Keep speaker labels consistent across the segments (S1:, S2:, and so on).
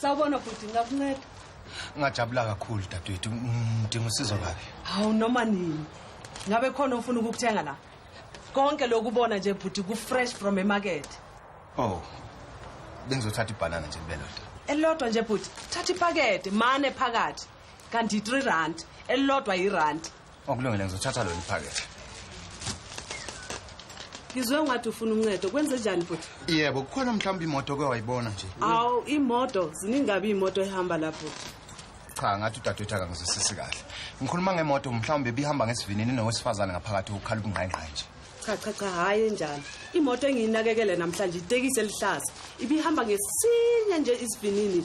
S1: sawubona bhuti ngakunceda ngajabula
S2: kakhulu dadewethu ngidinga usizo kabi hawu noma nini
S1: ngabe khona ofuna ukukuthenga la konke lokubona nje bhuti ku-fresh from emakethe oh
S2: bengizothatha ibhanana nje kubelodwa elilodwa nje bhuti
S1: thatha ipakede mane phakathi kanti yi-three rand elilodwa yirandi Okulungile ngizothatha
S2: lolu phakethe.
S1: Ngizwe ungathi ufuna uncedo kwenze njani futhi? Yebo kukhona mhlawumbe
S2: imoto ke wayibona nje. Aw imoto
S1: ziningabe imoto ehamba lapho. Cha ngathi
S2: udadewethu akangizwisisi kahle. Ngikhuluma ngemoto mhlawumbe bihamba ngesivinini nowesifazane ngaphakathi ukukhala ubungqayingqayi nje. Cha cha cha hayi
S1: enjalo. Imoto engiyinakekele namhlanje itekisi elihlaza. Ibihamba ngesinye nje isivinini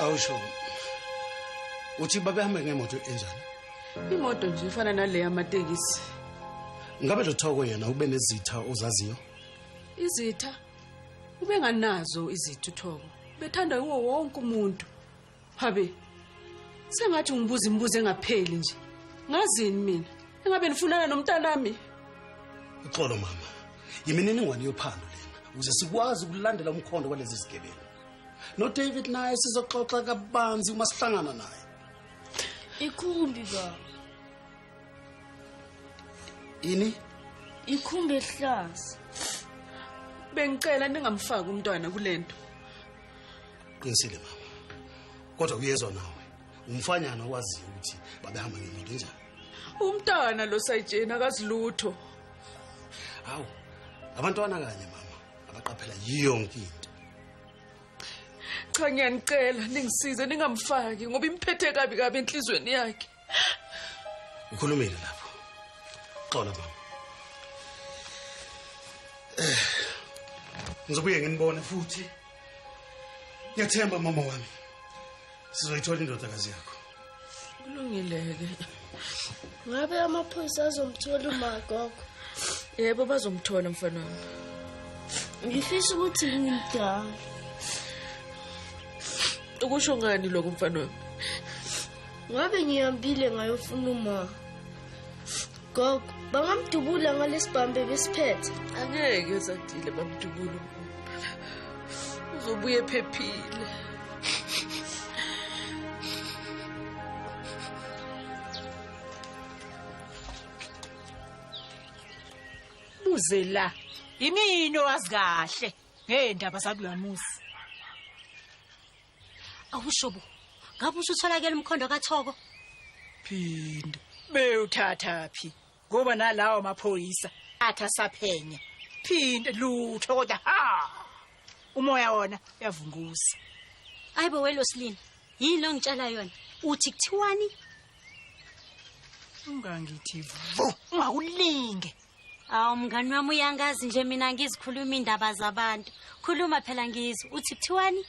S3: awusho uthi babehambe ngemoto enjani imoto nje
S1: ifana naleyo amatekisi ngabe
S3: lo thoko yena ube nezitha ozaziyo izitha
S1: ubenganazo izitha uthoko bethanda yiwo wonke umuntu Habi. Sengathi ungibuza imibuzo engapheli nje. Ngazini mina? Engabe nifunana nomntanami?
S3: Uxolo mama. Yimininingwane yophando lena ukuze sikwazi ukulandela umkhondo walezi zigebengu. No David naye sizoxoxa kabanzi uma sihlangana naye.
S4: Ikhumbi baba.
S3: Ini? Ikhumbi
S4: ehlaza.
S1: Bengicela ningamfaki umntwana kulento.
S3: qinisile baba kodwa kuyezwa nawe umfanyana owaziyo ukuthi babehamba ngemoto enjani umntana
S1: lo sayijeni akazilutho
S3: hawu abantwana kanye mama abaqaphela yonke into cha
S1: ngiyanicela ningisize ningamfaki ngoba imphethe kabi kabi enhlizweni yakhe
S3: ukhulumile lapho xola mama eh, ngizobuye nginibone futhi ngiyathemba mama wami sizoyithola indodakazi yakho kulungileke
S4: ngabe amaphoyisa azomthola umagogo yebo
S1: bazomthola mfana wami
S4: ngifisa ukuthi ngimdala
S1: ukusho ngani lokho mfana wami
S4: ngabe ngihambile ngayofuna uma gogo bangamdubula ngalesibhambe besiphethe angeke
S1: zadile bamdubula uzobuye ephephile
S5: buze la yimini owazi kahle ngeendaba zakulamuzi
S6: awushobo ngabe usutholakela umkhondo kathoko phinde
S5: bewuthatha phi ngoba nalawo maphoyisa atha saphenya phinde lutho kodwa ha umoya wona uyavunguza ayibo
S6: welosilini yini lo ngitshela yona uthi kuthiwani
S5: ungangithi vu ungakulinge Awu
S6: mngani wami uyangazi nje mina ngizikhuluma indaba zabantu. Khuluma phela ngizwe. Uthi kuthiwani?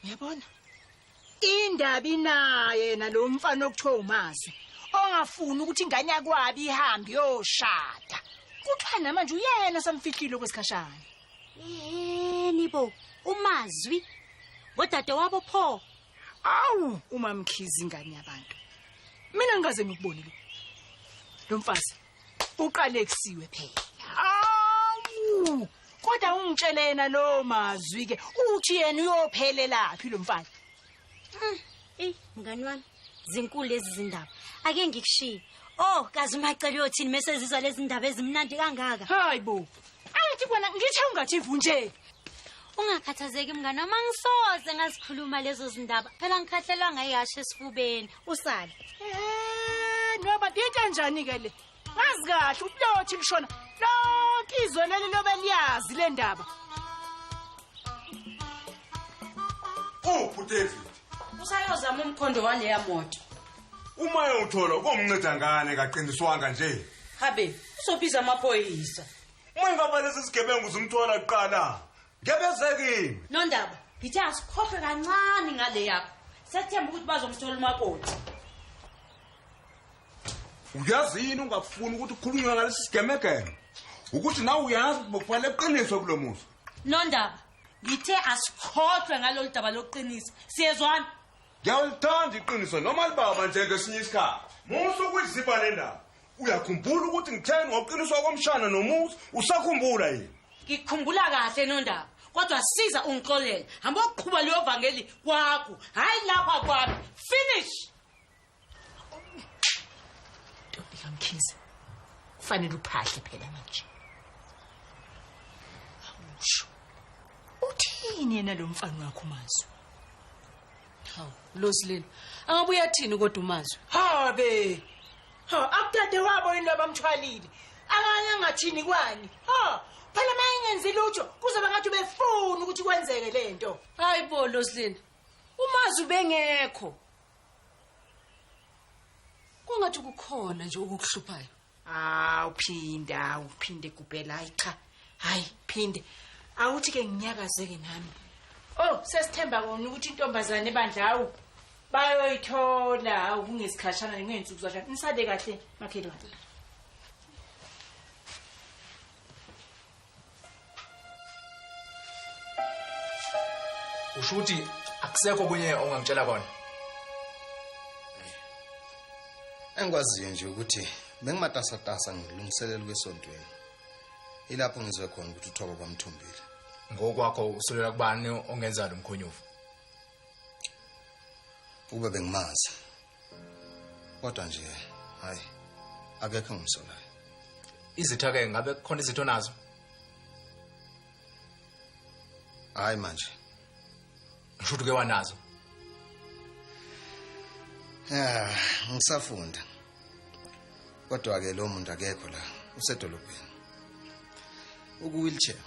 S6: Uyabona?
S5: Indaba inaye yena lo mfana okuthiwa uMazwi. Ongafuni ukuthi ingane yakwabi ihambe yoshada. Kuthiwa namanje uyena osamfihlile kwesikhashana. Yini
S6: bo? UMazwi ngodade wabo pho. Awu
S5: umamkhizi ingane yabantu. Mina ngikaze ngikubonile. Lo mfazi uqalekisiwe phela awu kodwa ungitshele yena lowo mazwi ke uthi yena uyophelelaphi lo mfana hmm, eyi mngani
S6: wami zinkulu lezi zindaba ake ngikushiye oh kazi umacela uyothini mesezizwa lezi ndaba ezimnandi kangaka hayi bo
S5: angithi kona ngithe ungathi vu nje ungakhathazeki
S6: mngane uma ngisoze ngazikhuluma lezo zindaba phela ngikhahlelwa ngayihasha esifubeni usale
S5: eh noba into njani ke le ngazi kahle ubulothi lishona lonke izwe leli lobe liyazi le ndaba
S7: uphi udavid usayozama
S1: umkhondo waleya moto uma
S7: eyowuthola komnceda ngane kaqiniswanga nje habe uzobiza
S1: amaphoyisa
S7: uma ingaba lesi sigebengu zimthola
S1: kuqala
S7: Ngebezekini. Nondaba, ngithe
S8: asikhokhe kancane ngale yakho. Sethemba ukuthi bazomthola umakoti.
S7: Uyazi yini ungafuni ukuthi ukhulunywe ngalesi sigemegeme? Ukuthi nawe uyazi ukuthi bokufanele eqiniswe kulomusa. Nondaba,
S8: ngithe asikhohlwe ngalolu daba lokuqinisa. Siyezwana? Ngiyalithanda
S7: iqiniso noma libaba nje ngesinye isikhathi. Musa ukuyizibha le ndaba. uyakhumbula ukuthi ngitheni ngoqiniswa komshana nomuzi usakhumbula yini ngikhumbula kahle
S8: nondaba kodwa siza ungixolele hamba ukuqhuba leyo vangeli kwakho hhayi lapha kwami finish
S5: ntombi kamkhize kufanele uphahle phela manje awusho uthini yena lo mfana wakho mazwi
S1: hawu losilelo angabuye athini kodwa umazwi habe
S5: Ho akuthathe wabo yini abamthwalile. Akanye angathini kwani. Ho phela mayengenzi lutho kuzoba ngathi befuna ukuthi kwenzeke lento. Hayi bo Loslin.
S1: Umazi ubengekho. Kungathi kukhona nje okukuhluphayo. Ah uphinda
S5: uphinde kubhela hayi cha. Hayi phinde. Awuthi ke nginyakazeke nami. Oh sesithemba kona ukuthi intombazane bandla awu. bayoyithola awu kungesikhashana ngey'nsuku zashana nisade kahle makhelwane
S9: usho ukuthi akusekho kunye ongangitshela kona
S2: engikwaziyo nje ukuthi bengimatasatasa ngilungiselela ukwesontweni ilapho ngizwe khona ukuthi uthoba kwamthumbile ngokwakho
S9: usulela kubani ongenza lo mkhonyovu
S2: Uba bengimazi. Kodwa nje hayi akekho ngimsolayo. Izitha
S9: ke ngabe kukhona izitho nazo?
S2: Hayi manje.
S9: Ngisho uke wanazo. Yeah,
S2: ngisafunda. Kodwa ke lo muntu akekho la, usedolobheni. Uku wheelchair.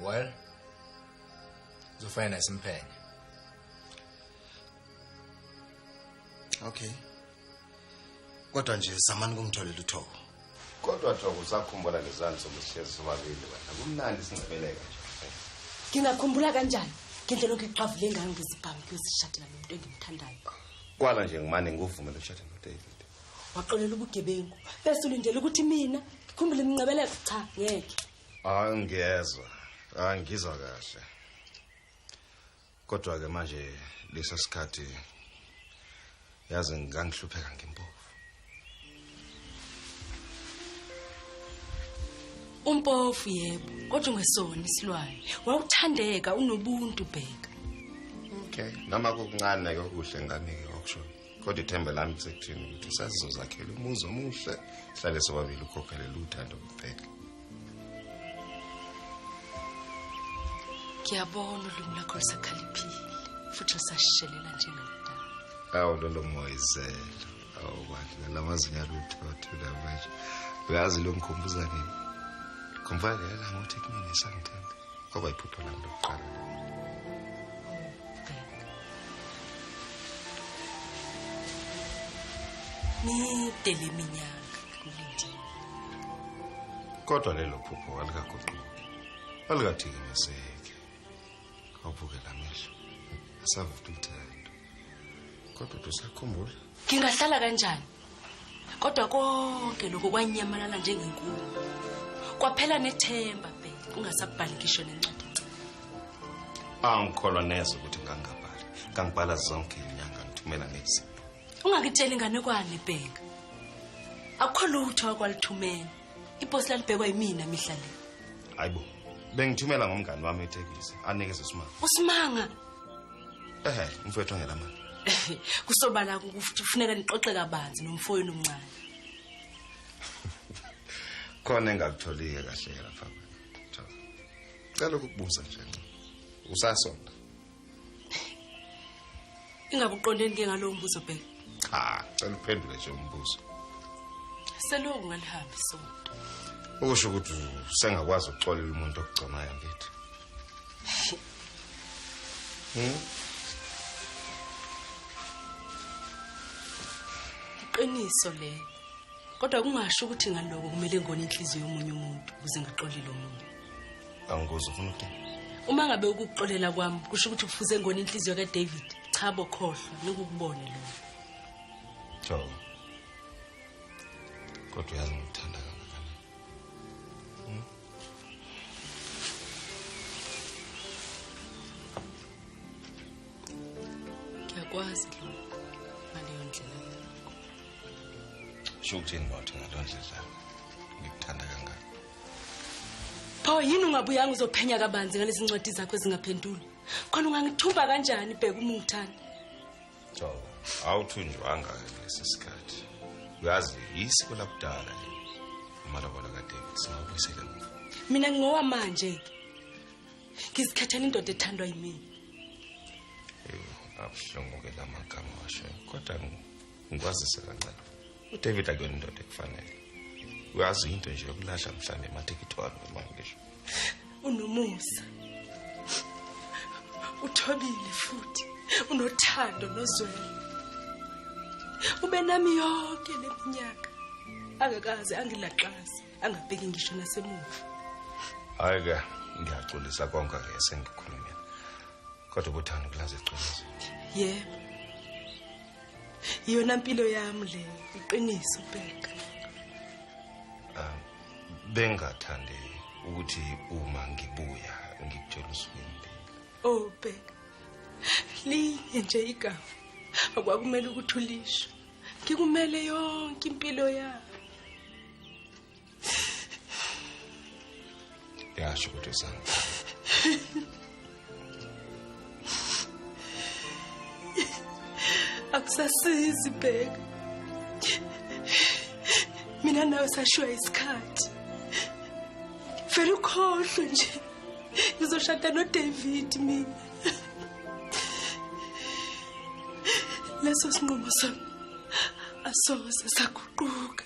S9: Well, Uzofana nasimphenya.
S2: Okay. Kodwa nje samani kungitholela uthoko. Kodwa thoko
S10: usakhumbula lezani sokusihlezi sobabili wena. Kumnandi singcebeleka nje. Ngingakhumbula
S11: kanjani? Ngendlela okuqhavu lengane ngizibhamu kuyozishadela nomuntu engimthandayo. Kwala nje
S10: ngimane ngikuvumela ushade noDavid. Waxolela
S11: ubugebengu. Bese ulindele ukuthi mina ngikhumbule imnqebeleko cha ngeke. angiyezwa
S10: angizwa kahle kodwa ke manje lesa sikhathi yazi ngangihlupheka ngempofu
S11: umpofu yebo kodwa ungesona isilwane wawuthandeka unobuntu bheka okay
S10: noma kokuncane kokuhle ngane ke okusho kodwa ithemba lami kusekuthini ukuthi usazizozakhela umuzi omuhle sihlale sobabili ukhokhelele uthando kuphela
S11: ngiyabona ulimi lakho lusakhaliphile futhi lusashelela njengamdala awu lolo
S10: moyizela awu bantu nalamazinyo alutho athula manje uyazi lo ngikhumbuza nini ngimfana lena ngothi kumina sangithanda kwaba iphupho lami lokuqala
S11: mide le minyaka kulindile
S10: kodwa lelo phupho alikaguquki alikathikiniseki awubukela amehlo asavuka umthetho kodwa tusakhumbula ngingahlala
S11: kanjani kodwa konke lokho kwanyamalala njengenkulu kwaphela nethemba bhe ungasabhali ngisho nencwadi angikholwa
S10: neze ukuthi ngangabhali ngangibhala zonke inyanga ngithumela ngezinto ungakitsheli
S11: inganekwane bhenga akukho lutho akwalithumela iposi lalibhekwa yimina mihla le hayi bo
S10: bengithumela ngomngani wami ithekisi anikeze usimanga usimanga
S11: ehe
S10: mfowethu ngela mali kusobala
S11: kufuneka nixoxe kabanzi nomfoyini omncane
S10: khona engakutholike kahle lapha cela ukukubuza nje usasonda
S11: ingabe uqondeni ke ngalowo mbuzo bheka cha cela
S10: uphendule nje umbuzo
S11: selokhu ngalihambi isonto okusho ukuthi
S10: usengakwazi ukuxolela umuntu okugconayo mfethu
S11: hmm? iqiniso le kodwa kungasho ukuthi ngaloko kumele ngone inhliziyo yomunye umuntu ukuze ngaxolile
S10: omunye
S11: angikuzi ufuna
S10: ukuthini
S11: uma ngabe ukuxolela kwami kusho ukuthi kufuze ngona inhliziyo kadavid cha bokhohlwa nikukubone lo
S10: jo kodwa uyazi ngikuthanda kangakanani hmm?
S11: ngiyakwazi lo ngaleyo ndlela yakho sho
S10: ukuthini bawuthi ngaleyo ndlela ngikuthanda kangaka
S11: pho yini ungabuyanga uzophenya kabanzi ngalezi ncwadi zakho ezingaphenduli khona ungangithumba kanjani bheka uma ungithanda so
S10: awuthunjwanga lesi sikhathi uyazi yisiko lakudala le amalobolo kaDavid singabuyisela mina mina ngingowa
S11: manje ke ngizikhethela indoda ethandwa yimina
S10: abuhlungu ke lamagama washo kodwa ngikwazise kancane udavid akuyona indoda ekufanele uyazi into nje yokulahla mhlawumbe emathekithwalo imali ngisho unomusa
S11: uthobile futhi unothando nozwelo ube nami yonke le minyaka angakaze angilaxazi angabheki ngisho nasemuva hayi
S10: ke ngiyaxolisa konke ke sengikhulumile kodwa ubuthando kulaze iqiniso yebo
S11: yona mpilo yami le iqiniso bhenga ah,
S10: bengathande ukuthi uma ngibuya ngikutshela usukwini oh
S11: bhenga linye nje igama akwakumele ukuthi ulisho ngikumele yonke impilo yami
S10: yasho kodwa sami
S11: akusasizi bheka mina nawe sashiwa isikhathi vele ukhohlwe nje ngizoshada nodavid mina leso sinqumo sami asoze saguquka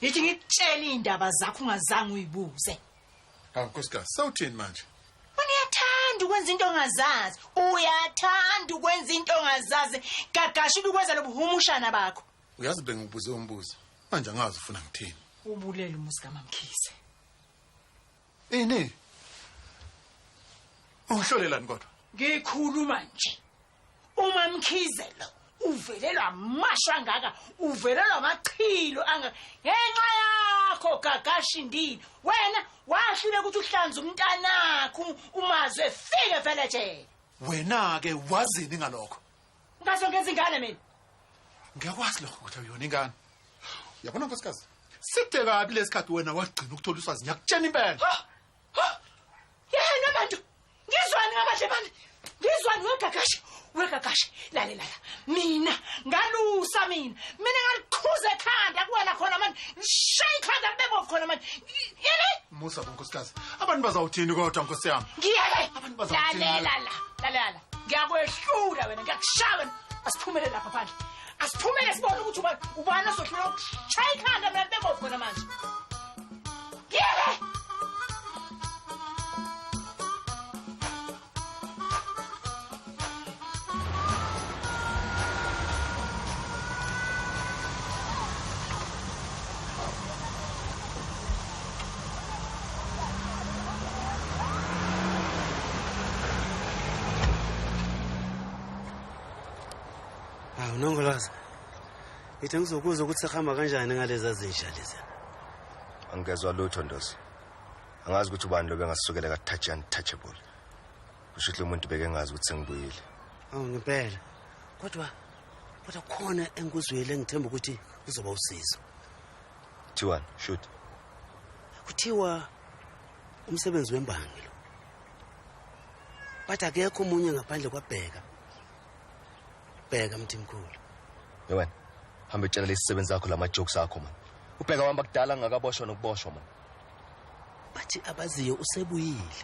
S5: Yithi ngikutshela indaba zakho ungazange uyibuze. Hawu nkosikazi,
S12: sawuthini manje? Uyathanda
S5: ukwenza into ongazazi. Uyathanda ukwenza into ongazazi. Gagasha ubukwenza lobuhumushana bakho. Uyazi bengibuze
S12: umbuzo. Manje angazi ufuna ngithini. Ubulele umuzi
S5: kaMamkhize.
S12: Ini? Ungihlolelani kodwa? Ngikhuluma
S5: nje. uma mkhize lo uvelelwa amasho angaka uvelelwa amachilo angaka ngenxa yakho gagashindini wena wahlule ukuthi uhlanze umntanakho umazwe fike vele nje wena ke
S12: wazini ngalokho ngaso ngenza
S5: ingane mina ngiyakwazi
S12: lokho ukuthi uyona ingane uyabona nkosikazi side kabi lesikhathi wena wagcina ukuthola uswazi ngiyakutshena impela yena
S5: bantu ngizwani ngabadle bami ngizwani wegagashi wegagashi lalelala mina ngalusa mina mina ngaliqhuza ekhanda kuwena khona manje ngishaye ikhanda libebovu khona manje yele musa bonkosikazi
S12: abantu bazawuthini kodwa nkosi yami ngiyeke Abantu
S5: bazawuthini?
S12: lalela la lalela
S5: ngiyakwehlula wena ngiyakushaya wena asiphumelele lapha phandle asiphumele sibone ukuthi ubani ubani ozohlula ukushaya ikhanda mina bebovu khona manje ngiyeke
S3: Hawu ah, nongolaza. Ngithe ngizokuza ukuthi sihamba kanjani ngalezi zinja lezi. Angezwa
S10: lutho ndosi. Angazi ukuthi ubani lobe ngasukela ka touch untouchable. Kusho ukuthi umuntu beke ngazi ukuthi sengibuyile. Awu ngempela.
S3: Kodwa kodwa khona engikuzwile ngithemba ukuthi uzoba usizo. Kuthiwani?
S10: Shoot.
S3: Kuthiwa umsebenzi wembangi lo. Bathi akekho umunye ngaphandle kwabheka. bheka mthimkhulu yewena
S10: hambe tshela lesisebenzi akho lama jokes akho man ubheka wamba kudala ngakaboshwa nokuboshwa man
S3: bathi
S13: abaziyo
S3: usebuyile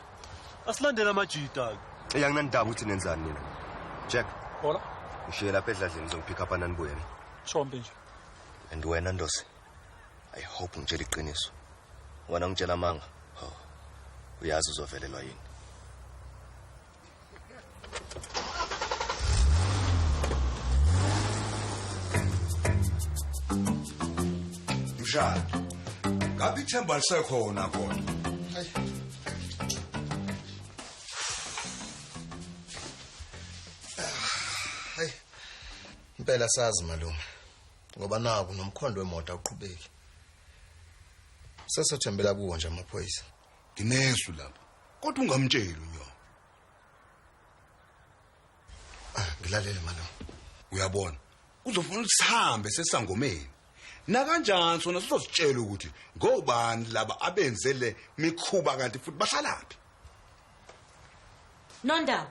S13: asilandela
S3: amajita ke
S13: eyanginandaba ukuthi nenzani nina jack hola
S12: ngishiye lapha edladleni
S13: ngizongipick up ananibuye ne shombe nje
S12: and wena
S13: ndosi i hope ngitshela iqiniso wena ngitshela amanga oh uyazi uzovelelwa yini
S7: mshado ngabe ithemba lisekhona kodwa
S2: hayi impela sazi malume ngoba naku nomkhondo wemoto awuqhubeki sesothembela kuwo nje amaphoyisa Nginesu
S7: lapha. Kodwa ungamtsheli unyoko.
S2: Ah, ngilalele manje. Uyabona.
S7: Uzofuna usihambe sesangomeni. Nakanjani sona sizositshela ukuthi ngobani laba abenze le mikhuba kanti futhi basalaphi.
S8: Nondaba,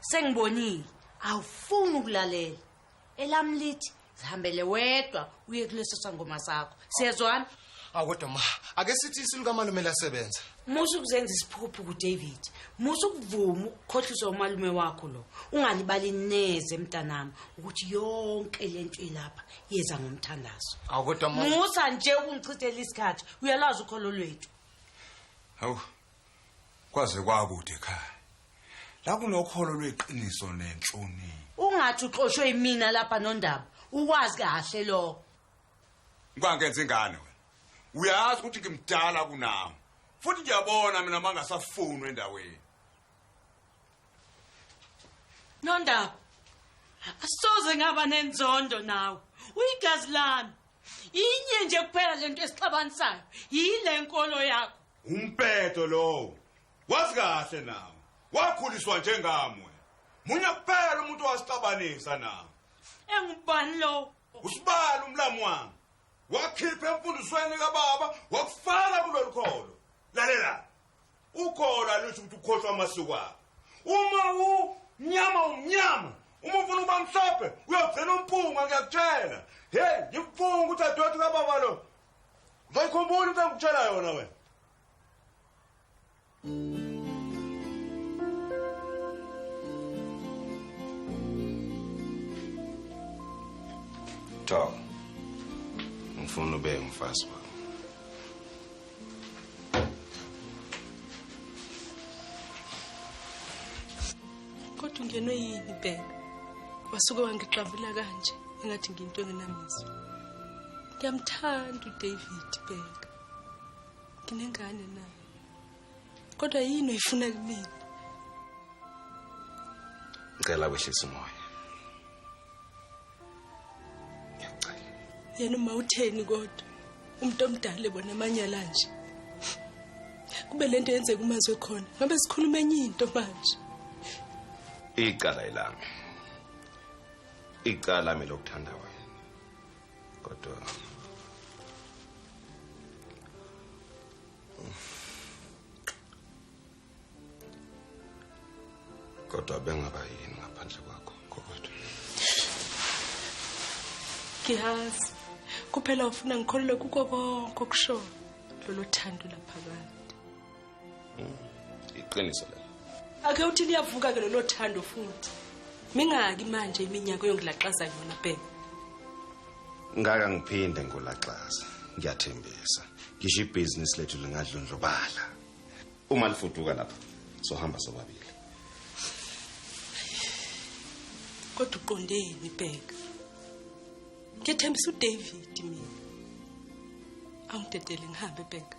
S8: sengibonile. Awufuni ukulalela. elami lithi zihambele wedwa uye kuleso sangoma sakho siyezwana akodwa ma
S2: ake sithi isilikamalume lasebenza musa ukuzenza
S8: isiphukuphuku david musa ukuvuma ukukhohlisa umalume wakho lo ungalibali neze mntanami ukuthi yonke le nto ilapha yeza ngomthandazo akodwa musa
S2: nje ukungichithela
S8: isikhathi uyalazi ukholo lwethu hawu
S7: kwaze kwakude ekhaya la kunokholo lweqiniso nenhlonipho ungathi uxoshwe
S8: imina lapha nondaba uwazi kahle lokho
S7: ngibangenza ingane wena uyazi ukuthi ngimdala kunawo futhi ngiyabona mina mangasafunwa endaweni
S8: nondaba asoze ngaba nenzondo nawe uyigazi lami inye nje kuphela lento esixabanisayo yile nkolo yakho Umpeto
S7: lowo. Wazi kahle nawo. Wakhuliswa njengamwe. Munye kuphela umuntu wasixabanisa nawo. Engubani
S8: lowo? Usibala umlamu
S7: wami. Wakhipha emfundisweni kababa wakufaka kulolu kholo. Lalela. Ukholo alusho ukuthi ukhohlwa amasiko akho. Uma u mnyama umnyama uma ufuna ukuba mhlophe uyogcina umpunga ngiyakutshela heyi ngikufunga ukuthi adoti kababa lo Ngayikhumbula into engikutshela yona wena.
S13: Talk. Ngifuna ube umfazi wakho.
S11: Kodwa ungenwe yini bheka? Wasuke wangixavula kanje engathi ngiyinto engenamizwa. ngiyamthanda udavid bheka nginengane naye kodwa yini oyifuna kumina
S13: ngicela kwehlisa umoya ngiyacela
S11: yena uma utheni kodwa umuntu omdala ebona amanyala nje kube lento yenzeka umazwe khona ngabe sikhuluma enye into manje
S13: icala ilami icala mina lokuthanda wena kodwa kodwa bengaba yini ngaphandle kwakho kodwa
S11: ngiyazi kuphela ufuna ngikholelwe kuko konke okushoyo lolu thando laphakade Mm,
S13: iqiniso lelo. Ake uthi liyavuka
S11: ke lelo thando futhi. Mingaki manje iminyaka yongilaxaza yona bhe.
S13: Ngaka ngiphinde ngolaxaza. Ngiyathembisa. Ngisho ibusiness lethu lingadlondlobala. Uma lifuduka lapha sohamba sobabili.
S11: kodwa uqondeni bheka ngethembisa uDavid mina awudedele ngihambe bheka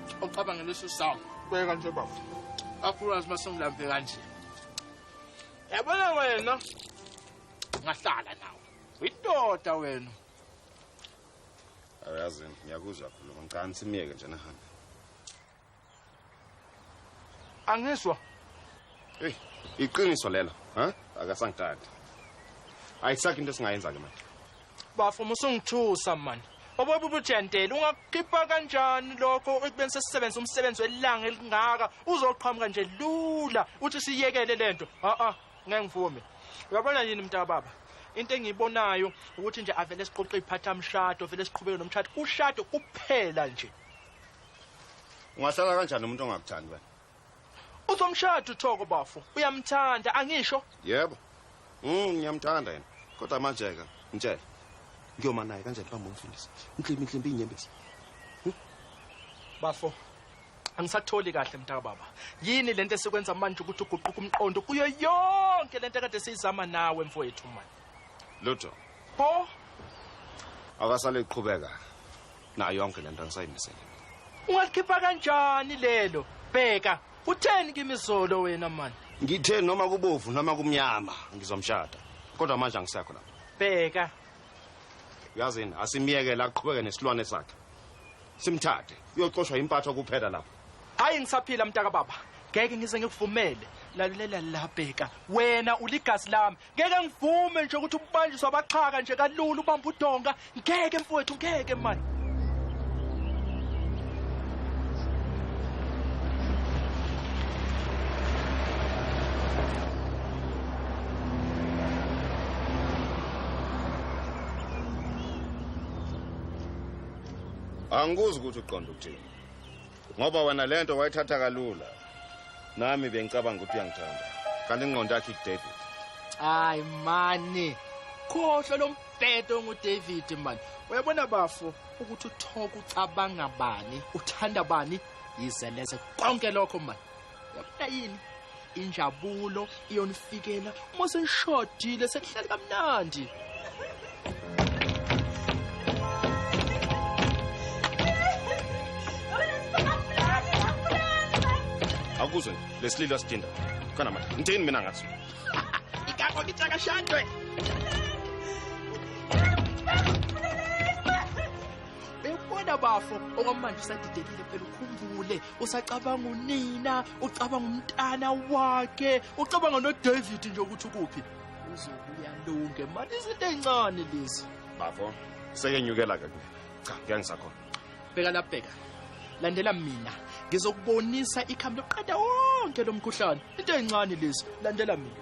S9: ucabanga leso sawu beka nje baba akhulukazi uma sengilambe kanje yabona wena ngahlala nawe uyindoda wena
S13: ayazi ngiyakuzwa khuluma ngicani simyeke nje nahambe angiswa
S9: eyi
S13: iqiniso lelo ha akasangitandi
S10: ayisakho into esingayenza-ke manje Bafo
S14: musungithusa man. Obobu bujentele ungakukhipha kanjani lokho ekubeni sesisebenza umsebenzi welanga elingaka uzoqhamuka nje lula uthi siyekele lento. Ha ah ngeke ngivume. Uyabona yini mntaka baba? into engiyibonayo ukuthi nje avele siqoqe iphatha mshado vele siqhubeke nomshado ushado kuphela nje ungahlala
S10: kanjani umuntu ongakuthandi wena Uzomshada
S14: uThoko bafo. Uyamthanda angisho? Yebo.
S10: Mm ngiyamthanda yena. Kodwa manje ke ngitshela. Ngiyoma naye kanjani bamba umfundisi? Inhlimbi inhlimbi inyembezi. Hm?
S14: Bafo. Angisatholi kahle mntaka baba. Yini lento esikwenza manje ukuthi uguquke umqondo kuyo yonke lento kade siyizama nawe mfowethu manje. Lutho.
S10: Pho? Akasale iqhubeka. nayo yonke lento angisayimisele ungalikhipha
S14: kanjani lelo bheka utheni kimi izolo wena mani ngithe noma kubovu
S10: noma kumnyama ngizomshada kodwa manje angisekho lapho bheka uyazini asimyekele aqhubeke nesilwane sakhe simthathe uyoxoshwa impatho kuphela lapho hayi ngisaphila
S14: mntaka baba ngeke ngize ngikuvumele lalulela la bheka wena uligazi lami ngeke ngivume nje ukuthi ubanjiswa abaxhaka nje kalula ubamba udonga ngeke mfowethu ngeke mani
S10: angikuzi ukuthi uqonda ukuthini ngoba wena le nto wayithatha kalula nami bengicabanga ukuthi uyangithanda kanti ingqondo yakhe ikudavid hayi
S14: mani khohlwa lo mbhedo ongudavid mani uyabona bafo ukuthi uthoka ucabanga bani uthanda bani yize leze konke lokho mani yabona yini injabulo iyonifikela uma senishodile senihlale kamnandi
S10: akuzwe lesililo sidinda khona manje ngithini mina ngathi ikako
S14: ngithaka shandwe bekubona bafo okwamanje usadidekile phela ukhumbule usacabanga unina ucabanga umntana wakhe ucabanga nodavid nje ukuthi ukuphi uzobuya lunge mani izinto ey'ncane lezi bafo
S10: sekenyukela-ke kuye cha kuyangisakhona bheka labheka
S14: landela mina ngizokubonisa ikhambi lokuqeda wonke lo mkhuhlane into ey'ncane lezi landela mina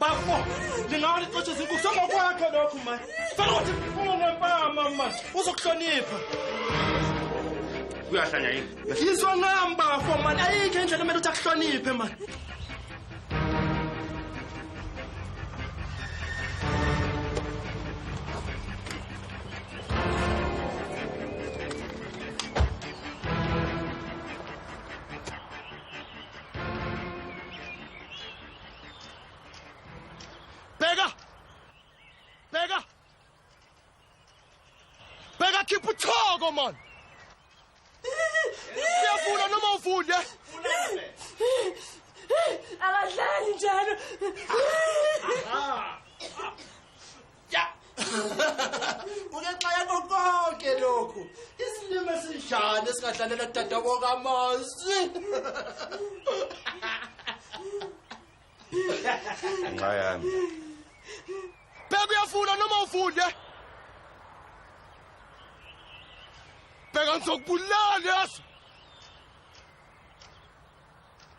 S10: bafo
S14: ndingawa ndixoshe zinkulu sokokwakho lokhu ma fana ukuthi ndiphuma ngempama ma uzokuhlonipha
S10: uyahlanya yini yizwa ngam
S14: bafo mani ayikho endlela kumele ukuthi akuhloniphe mani Bheka! Bheka! Bheka khipha uthoko man. Siyafuna noma ufunde.
S11: Abadlali njalo.
S14: ungenxa yakho konke lokhu isilima esinjani esingadlalela dadabo kamazwi
S10: nxa yami
S14: bheka uyafuna noma ufunde bheka ngizokubulala yazi